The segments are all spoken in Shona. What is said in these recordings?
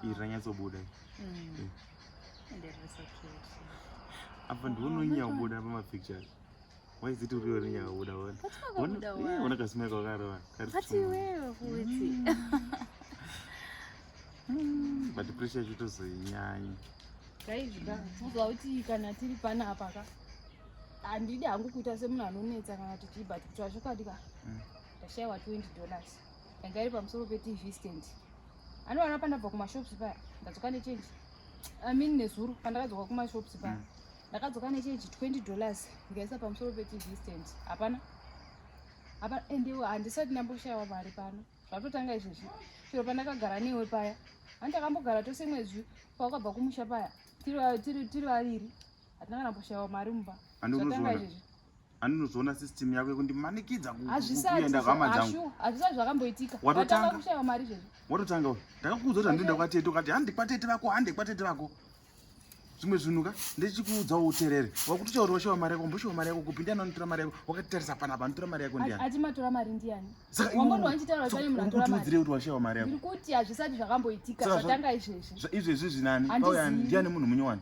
iri ranyatsobuda mm. eh. apa ndiononyaubuda oh, pamapicture why is it uriyo rinyaubuda ona kasima kakarova but pressure yacho tozoinyanya tozwa kuti kana tiri pana apa ka handidi hangu kuita semunhu anonetsa kana tichibva tikutwa chokwadi ka mm. ndashaiwa 20 dollars yanga iri pamusoro petv stand anowana pandabva kumashops paya ndadzoka nechange i mean nezuro pandakadzoka kumashops paya mm. ndakadzoka nechange 20 dollars ndikaisa pamusoro petv stand hapana apa ende handisati ndamboshayiwa mari pano zvatotanga izvezvi chero pandakagara newe paya ani takambogara tose mwezvi paukabva kumusha paya tiri vaviri hatina kana mboshayiwa mari mumba zvatanga izvezvi aninozoona system yako yekundimanikidza kuenda hama dzangu hazvisati zvakamboitika watotanga kushaiwa mari izvezvi watotanga uyu ndakakuudza kuti handienda kwatete ukati handi kwatete vako handi kwatete vako zvimwe zvinhu ka ndechikuudzawo uterere wakutotaura washaiwa mari yako mboshaiwa mari yako kupi ndiani anotora mari yako wakatarisa panapa anotora mari yako ndiani ati matora mari ndiani sakakutiudzirei kuti washaiwa mari yako kuti hazvisati zvakamboitika zvatanga izvezvi izvezvi zvinani ndiani munhu munyowani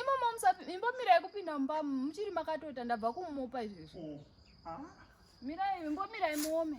Imomo imbomira yekupinda mumba muchiri makatota ndabva kumupa izvezvi. Oh, ah. Mirai imbomira imuome.